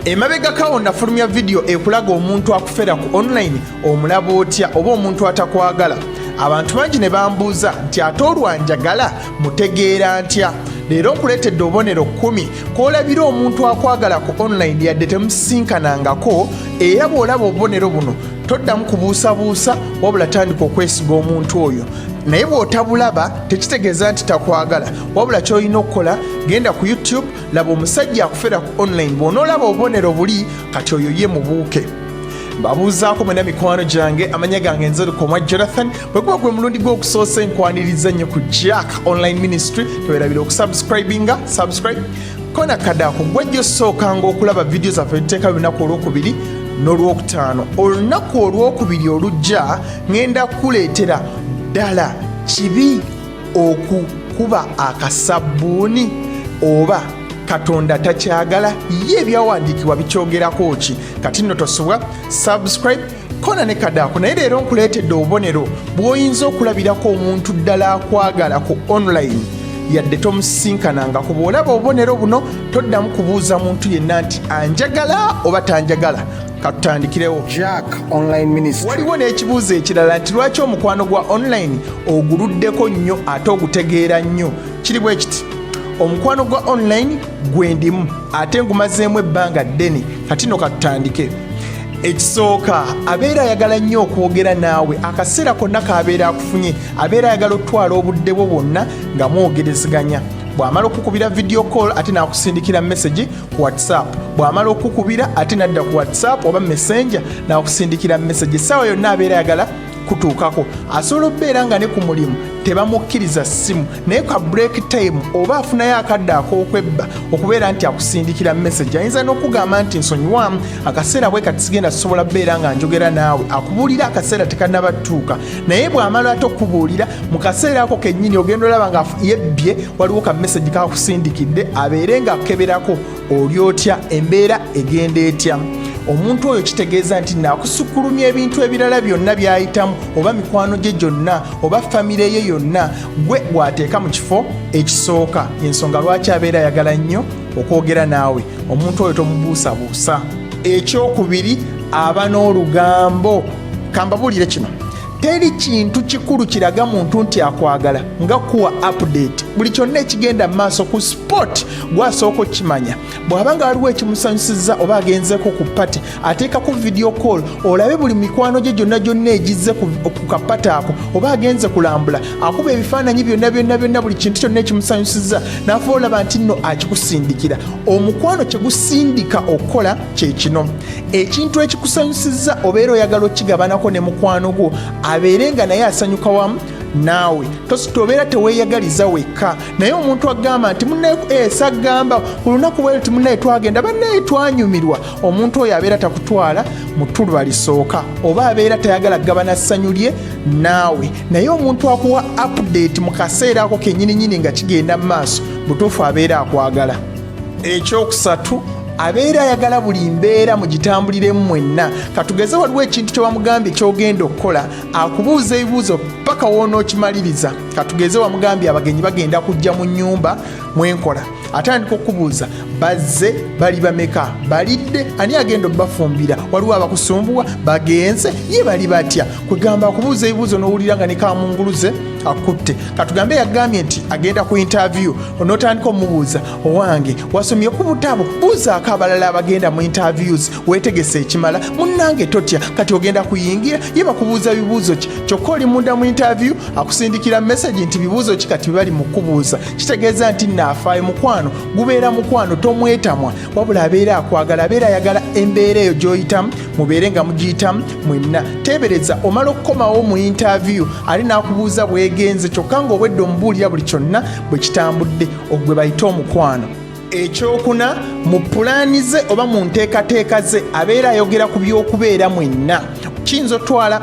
emabegako awo nafulumya vidiyo ekulaga omuntu akufera ku online omulaba otya oba omuntu atakwagala abantu bangi ne bambuuza nti ate olwanjagala mutegeera ntya leero nkuleetedde obubonero kkumi kw'olabira omuntu akwagala ku online yadde temusisinkanangako era bw'olaba obubonero buno toddamu kubuusabuusa wabula tandika okwesiga omuntu oyo naye bw'otabulaba tekitegeeza nti takwagala wabula ky'olina okukola genda ku youtube laba omusajja akufera ku online bw'onoolaba obubonero buli kati oyo ye mubuuke mbabuuzaako mwena mikwano gyange amanya gange nzerukomwa jonathan bwekuba gwe mulundi gw'okusoosa enkwaniriza nnyo ku jack online ministry tewerabira okusubscribinga subscribe kona kadaako gwejja osookanga okulaba vidiyo zaffe tuteeka lunaku olwokubiri n'olwokutaano olunaku olwokubiri olujja ŋenda kukuleetera ddala kibi okukuba akasabbuuni oba katonda takyagala ye ebyawandiikibwa bikyogerako ki kati nno tosubwa subscribe kona ne kadaako naye leero nkuleetedde obubonero bw'oyinza okulabirako omuntu ddala akwagala ku online yadde tomusisinkanangako bw'olaba obubonero buno toddamu kubuuza muntu yenna nti anjagala oba tanjagala katutandikirewo jack online ministry waliwo n'ekibuuzo ekirala nti lwaki omukwano gwa online oguluddeko nnyo ate ogutegeera nnyo kiri bwe kiti omukwano gwa online gwendimu ate ngumazeemu ebbanga ddene kati no katutandike ekisooka abeera ayagala nnyo okwogera naawe akaseera konna kaabeera akufunye abeera ayagala okutwala obudde bwo bwonna nga mwogerezeganya bw'amala okukubira vidiyo call ate n'akusindikira mesagi ku whatsapp bw'amala okukubira ate nadda ku whatsapp oba messenger nakusindikira message essaawa yonna abeera ayagala kutuukako asobola okubeera nga ne ku mulimu tebamukkiriza ssimu naye ka break time oba afunayo akadde ak'okwebba okubeera nti akusindikira message ayinza n'okugamba nti nsonyiwamu akaseera bwe kati sigenda sisobola beera nga njogera naawe akubuulira akaseera tekanabatuuka naye bw'amala ate okubuulira mu kaseera ako kennyini ogenda olaba nga yebbye waliwo ka mesagi kakusindikidde abeere nga akeberako oli otya embeera egenda etya omuntu oyo kitegeeza nti nakusukulumya ebintu ebirala byonna byayitamu oba mikwano gye gyonna oba famire ye yonna gwe gwateeka mu kifo ekisooka ensonga lwaki abeera ayagala nnyo okwogera naawe omuntu oyo tomubuusabuusa ekyokubiri aba n'olugambo kambabuulire kino teri kintu kikulu kiraga muntu nti akwagala nga kuwa update buli kyonna ekigenda mu maaso ku sport gwasooka okukimanya bw'aba nga waliwo ekimusanyusizza oba agenzeko ku pati ateekako video call olabe buli mikwano gye gyonna gyonna egizze ku kapati ako oba agenze kulambula akuba ebifaananyi byonna byonna byonna buli kintu kyonna ekimusanyusizza n'afuba olaba nti nno akikusindikira omukwano kye gusindika okukola kyekino ekintu ekikusanyusizza obeera oyagala okigabanako ne mukwano gwo abeere nga naye asanyuka wamu naawe tobeera teweyagaliza wekka naye omuntu agamba nti munaesagamba eh, ku lunaku bwe ti munaye twagenda banaye twanyumirwa omuntu oyo abeera takutwala mutuluba lisooka oba abeera tayagala kugabana ssanyu lye naawe naye omuntu akuwa update mu kaseera ako kenyininyini nga kigenda mu maaso butuufu abeera akwagala ekyokusatu abeera ayagala buli mbeera mu gitambuliremu mwenna katugeze waliwo ekintu kye wamugambye kyogenda okukola akubuuza ebibuuzo paka woonaokimaliriza katugeze wamugambye abagenyi bagenda kujja mu nyumba mwenkola atandika okubuuza bazze bali bameka balidde ani agenda obafumbira waliwo abakusumbuwa bagenze ye bali batya kwegamba akubuuza ebibuuzo nowulira nga nekamunguluze akutte katugambe yagambye nti agenda ku intavyu onotandika omubuuza owange wasomye ku butabo buuzaako abalala abagenda mu interviews wetegese ekimala munange totya kati ogenda kuyingira ye bakubuuza bibuuzo ki kyokka oli munda mu intervyu akusindikira mesagi nti bibuuzo ki kati bebali mukubuuza kitegeeza nti naafaayo mukwano gubeera mukwano tomwetamwa wabula abeera akwagala abeera ayagala embeera eyo gyoyitamu mubeere nga mugiyitamu mwenna teebereza omala okukomawo mu intaaviyu ali n'akubuuza bwegenze kyokka ng'obwedde omubuulira buli kyonna bwe kitambudde ogwe bayite omukwano ekyokuna mu pulaani ze oba mu nteekateeka ze abeera ayogera ku by'okubeera mwenna kiyinza otwala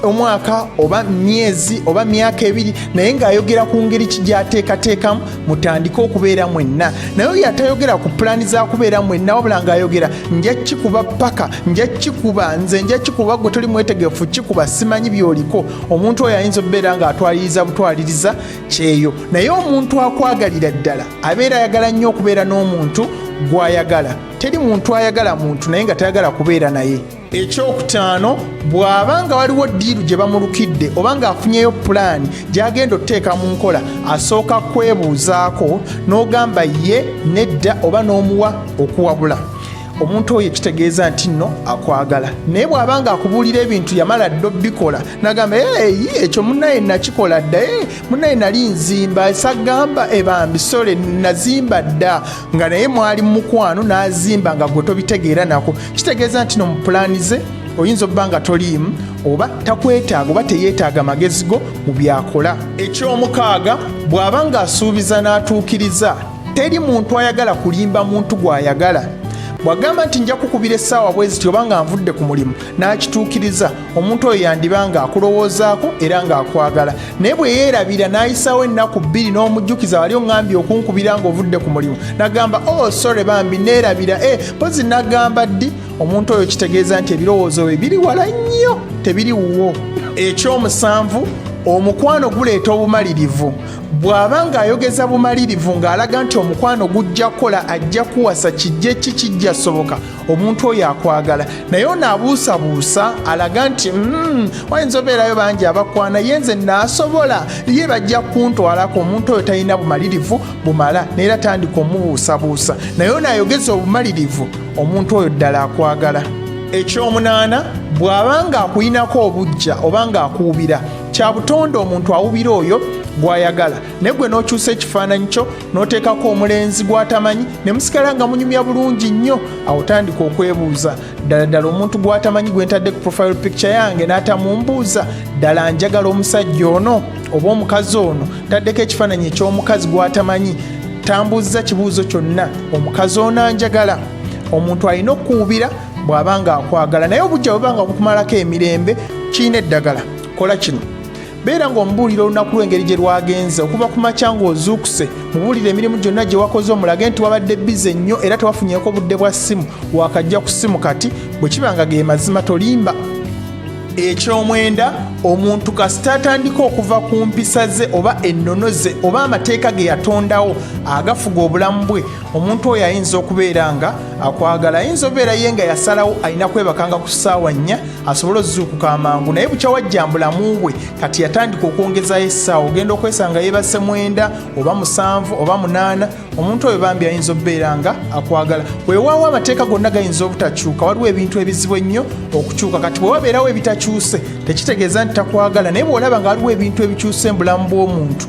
omwaka oba myezi oba myaka ebiri naye ng'ayogera ku ngeri ki gyateekateekamu mutandike okubeera mwenna naye oyo atayogera ku pulaani za kubeera mwenna wabula ng'ayogera nja kikuba paka nja kikuba nze nja kikuba gwe toli mwetegefu kikuba simanyi byoliko omuntu oyo ayinza okubeera ng'atwaliriza butwaliriza kyeyo naye omuntu akwagalira ddala abeera ayagala nnyo okubeera n'omuntu gw'ayagala teri muntu ayagala muntu naye nga tayagala kubeera naye ekyokutaano bw'aba nga waliwo ddiiru gye bamulukidde oba ng'afunyeyo pulaani gy'agenda okuteeka mu nkola asooka kwebuuzaako n'ogamba ye nedda oba n'omuwa okuwabula omuntu oyo ekitegeeza nti nno akwagala naye bw'aba nga akubuulira ebintu yamala dda obikola nagamba eyi ekyo munaye nakikola dda e munaye nali nzimba esagamba ebambi eh, sole nazimba dda nga naye mwali mukwano n'azimba nga gwe tobitegeera nako kitegeeza nti no mu pulaani ze oyinza okuba nga toliimu oba takwetaaga oba teyeetaaga magezi go mu byakola eky'omukaaga bw'aba ng'asuubiza n'atuukiriza teri muntu ayagala kulimba muntu gw'ayagala bw'agamba nti nja kukubira essaawa bweziti oba nga nvudde ku mulimu n'akituukiriza omuntu oyo yandiba nga akulowoozaako era ng'akwagala naye bwe yeerabira n'ayisaawo ennaku bbiri n'omujjukiza wali oŋambye okunkubira ng'ovudde ku mulimu nagamba o oh, sore bambi neerabira e eh, mpozi nagamba ddi omuntu oyo kitegeeza nti ebirowoozo bye biri wala nnyo tebiri wuwo ekyomusanvu omukwano guleeta obumalirivu bw'aba ng'ayogeza bumalirivu ng'alaga nti omukwano gujja kukola ajja kuwasa kijja ki kijja soboka omuntu oyo akwagala naye ono abuusabuusa alaga nti mm, wayinza obeerayo bangi abakwana ye nze naasobola ye bajja kuntwalako omuntu oyo talina bumalirivu bumala naye era tandika omubuusabuusa naye ono ayogeza obumalirivu omuntu oyo ddala akwagala ekyomunaana bw'aba ng'akuyinako obujja oba ng'akuwubira kya butonde omuntu awubira oyo gw'ayagala naye gwe n'okyusa ekifaananyi kyo n'oteekako omulenzi gw'atamanyi ne musigala nga munyumya bulungi nnyo awo tandika okwebuuza ddala ddala omuntu gw'atamanyi gwe ntadde ku profile picture yange n'atamumbuuza ddala njagala omusajja ono oba omukazi ono taddeko ekifaananyi eky'omukazi gw'atamanyi tambuuzza kibuuzo kyonna omukazi ono anjagala omuntu alina okuwubira bw'aba nga akwagala naye obujja bweba nga bukumalako emirembe kirina eddagala kola kino beera ng'omubuulira olunaku lw'engeri gye lwagenze okuva ku makya ng'ozuukuse mubuulire emirimu gyonna gye wakoze omulage nti wabadde bize nnyo era tewafunyeko budde bwa ssimu wakajja ku ssimu kati bwe kiba nga ge mazima tolimba ekyomwenda omuntu kasita atandika okuva ku mpisa ze oba ennono ze oba amateeka ge yatondawo agafuga obulamu bwe omuntu oyo ayinza okubeera nga akwagala ayinza obeera ye nga yasalawo alina kwebakanga ku ssaawa nnya asobole ozuukuka amangu naye bukya wajja mbulamu bwe kati yatandika okwongezayo essaawa ogenda okwesanga yebasse mwenda oba musanvu oba munaana omuntu oyo bambi ayinza okubeera nga akwagala weewaawo amateeka gonna gayinza obutakyuka waliwo ebintu ebizibu ennyo okukyuka kati bwe wabeerawo ebitakyuse tekitegeeza nti takwagala naye bw'olaba nga waliwo ebintu ebikyuse mu bulamu bw'omuntu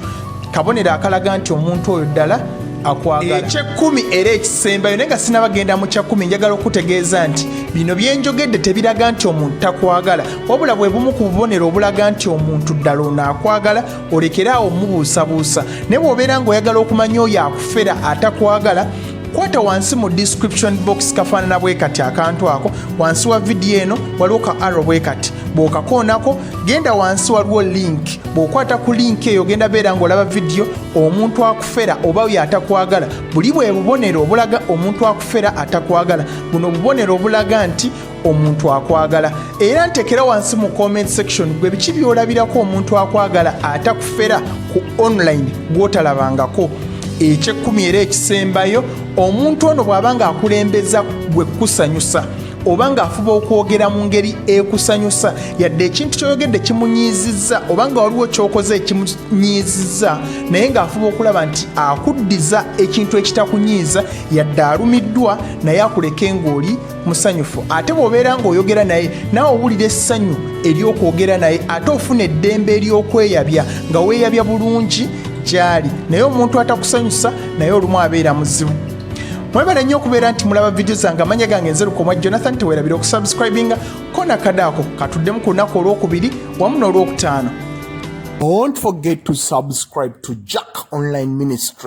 kabonero akalaga nti omuntu oyo ddala akwagala ekyekkumi era ekisembayo naye nga sinabagenda mu kyakkumi njagala okutegeeza nti bino byenjogedde tebiraga nti omuntu takwagala wabula bwe bumu ku bubonero obulaga nti omuntu ddala ono akwagala olekere awo mubuusabuusa naye bw'obeera ng'oyagala okumanya oyo akufera atakwagala kwata wansi mu description box kafaanana bwe kati akantu ako wansi wa vidiyo eno waliwo ka arrow bwe kati bw'okakoonako genda wansi waliwo link bw'okwata ku link eyo genda beera ng'olaba vidiyo omuntu akufera oba oyo atakwagala buli bwe bubonero obulaga omuntu akufera atakwagala buno obubonero obulaga nti omuntu akwagala era ntekera wansi mu comment section gwe biki byolabirako omuntu akwagala atakufera ku online gwotalabangako ekyekkumi era ekisembayo omuntu ono bw'aba nga akulembeza gwe kukusanyusa oba ng'afuba okwogera mu ngeri ekusanyusa yadde ekintu kyoyogedde kimunyiizizza oba nga waliwo kyokoze ekimunyiizizza naye ng'afuba okulaba nti akuddiza ekintu ekitakunyiiza yadde alumiddwa naye akuleke ng'oli musanyufu ate bw'obeera ng'oyogera naye nawe owulira essanyu ery'okwogera naye ate ofuna eddembe ery'okweyabya nga weeyabya bulungi gy'ali naye omuntu atakusanyusa naye olumu abeera muzibu mwebale nnyo okubeera nti mulaba vidiyo zange amanya gange nze lukomwa jonathan tewerabira okusubscribinga kona kadaako katuddemu ku lunaku olwokubiri wamu n'olwokutaano Don't forget to subscribe to Jack Online Ministry.